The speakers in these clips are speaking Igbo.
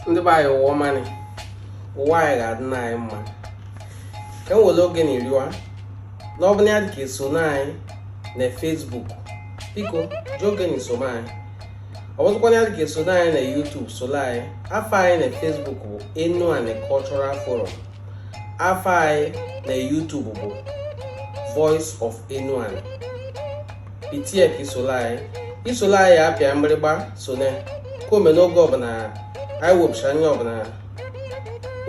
ndị be anyị ụwa ọma nị ụwa anyị ga-adị na anyị mma ka m wele oge nị rịọ na ọbụna ya dịka eso na anyị na Facebook biko ji oge nị so na anyị ọ bụzịkwa na ya dịka eso na anyị na YouTube solo anyị afa anyị na Facebook bụ Enuani Cultural Forum afa anyị na YouTube bụ Voice of Enuani itie ka i solo anyị i solo anyị apịa mgbịrịgba sone ka o mee na oge ọbụna anyị wepụsa nye ọbụna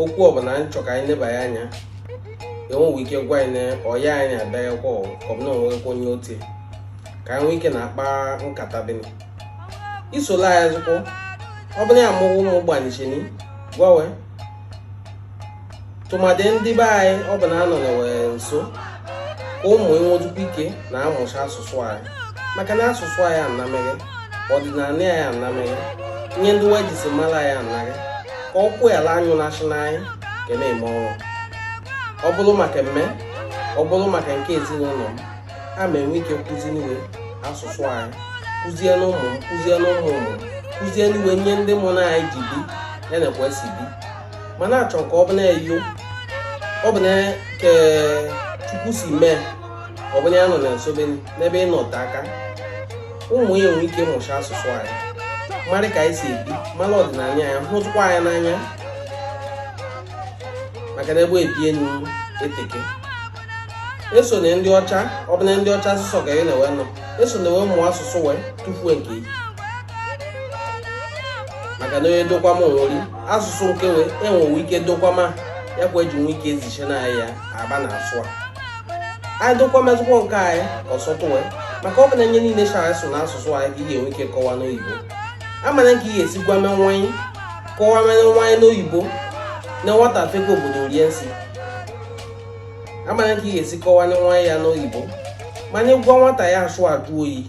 okwu ọbụna anyị chọ ka anyị nebanye anya enwewe ike gwa anyị na ọya anyị abịaghịkwa ọbụna o nwekwa onye otie ka anyị nwee ike na-akpa nkata bịanị solo anyị zụkwụ ọbụna ya mụ ụmụ gbanisieni gwa we tụmadị ndị be anyị ọ bụ na anọ na we nso ka ụmụ ị nwezukwu ike na-amụsa asụsụ anyị maka na asụsụ anyị anameghe ọdịnanị anyị anameghe nye ndị we jisi mala anyị anaghị ka ọ kwụ ala anyụ na-asị na anyị ka na-eme ọnwa ọ bụrụ maka mme ọ bụrụ maka nke ezinụnọ m a ma enwe ike kụzini we asụsụ anyị kụzini ụmụ m kụzini ụmụ ụmụ kụzini we nye ndị mụ na anyị ji bi ya nakwa esi bi mana achọ ka ọ bụ na-eyo ọ bụ na ke chukwu si mee ọ bụ na ya nọ na nso be n'ebe ị nọ te aka ụmụ ya enwe ike ịmụsa asụsụ anyị mara ka anyị si ebi mara ọdịnanị anyị hụzịkwa ya n'anya maka na ebe ebi enu eteke eso na ndị ọcha ọbụna ndị ọcha asụsụ ka ị na-ewe nọ eso na we mụọ asụsụ we tufue nke ị maka na onye dokwama we ri asụsụ nke we enwewe ike dokwama ya kwa eji nwe ike eziche na ya aba na asụ a anyị dokwamazịkwọ nke anyị ọsọtụ we maka ọ bụ na nye niile chara so na asụsụ anyị ka ị ga-enwe ike kọwa n'oyibo amana nke ị ga-esi gwa mee nwa ị kọwa mee nwa ị n'oyibo na nwata fekwa obodo rie nsị amana ka ị ga-esi kọwani nwa ị ya n'oyibo mana ị gwa nwata ya asụ ajụ oyi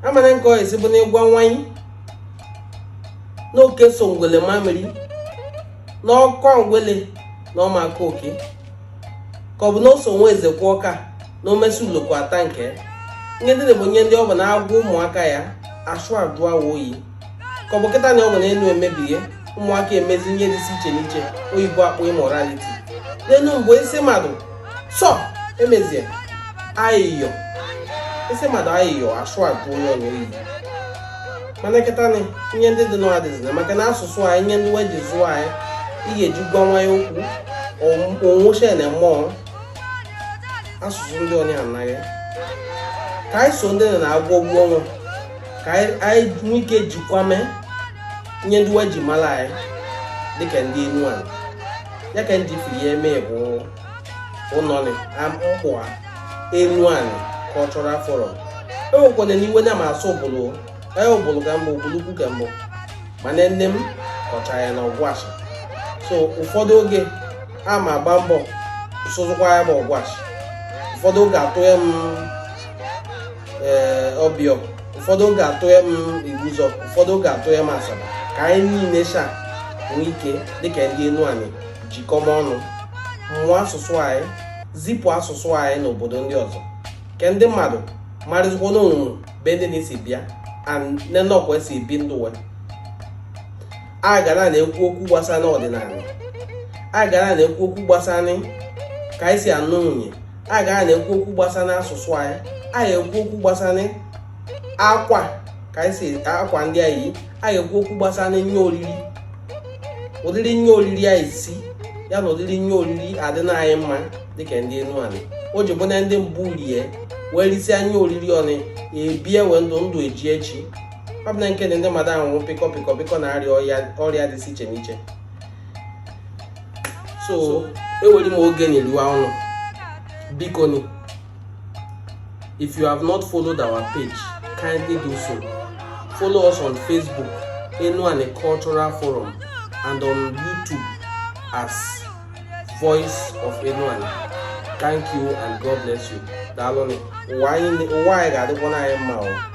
amana ka ọ ga-esi bụ na ị gwa nwa ị na oke so ngwele maa mmiri na ọ kọ ngwele na ọ ma akọ oke ka ọ bụ na o so nwa eze kwụ ọka na omesi uloko ata nke nye ndị nị bụ nye ndị ọ bụ na a gwa ụmụaka ya asụ ajụ wa oyi ka ọ bụ kịta nị o me na enu emebie ụmụaka emezi nye dịsi iche n'iche oyibo akpọ immorality n'enu mgbe ị sị mmadụ sọ emezie ayịyọ ị sị mmadụ ayịyọ asụ ajụ onye ọnwa oyi mana kịta nị nye ndị dị nị adịzina maka na asụsụ anyị nye ndị we ji zụọ anyị ị ga-eji gwa nwa ya okwu onwụcha na mụọ asụsụ ndị onye anaghị ka anyị so ndị na-agwọ ụgwọ ọnwa ka anyị nwee ike jikwame ihe ndị wa ji mara anyị dịka ndị enuani ya ka ndị firi ya eme bụ ụnọnị mkpụa enuani cultural forum ewekwananị iwe na ma asụ ubulu anyị ubulu ka m bụ ubulu ukwu ka m bụ mana nne m kọcha ya na ọgwashi so ụfọdụ oge a ma agba mbọ sụzụkwa ya bụ ọgwashi ụfọdụ oge atụ ya m ee ọbịọ ụfọdụ oge atụ ya m igbuzọ ụfọdụ oge atụ ya m asaba ka anyị niile sha nwee ike dịka ndị enuani jikọma ọnụ mụọ asụsụ anyị zipụ asụsụ anyị n'obodo ndị ọzọ ke ndị mmadụ marịzikwa na o nwenụ ebe ndị nị si bịa nenọkwa esi bi ndụ we a ga na-ekwu okwu gbasara ọdịnala a ga na-ekwu okwu gbasara ka anyị si anụ nwunye a ga na-ekwu okwu gbasara asụsụ anyị a ga-ekwu okwu gbasara akwa ka anyị si akwa ndị anyị a ga-ekwu okwu gbasara ihe oriri ụdịrị ihe oriri anyị si ya na ụdịrị ihe oriri adịna anyị mma dịka ndị enuani o ji bụ na ndị mbụ rie wee risia ihe oriri ọnụ ebie wee ndụ eji echi ọ bụ na nke na ndị mmadụ anwụrụ pịkọ pịkọ pịkọ na-arịa ọrịa dị iche n'iche so ewere m oge nị arịọ unu biko nị if you have not followed our page kindly do so follow us on facebook enuani cultural forum and on youtube as voice of enuani thank you and god bless you daalụ nị ụwa anyị ga-adịkwanị anyị mma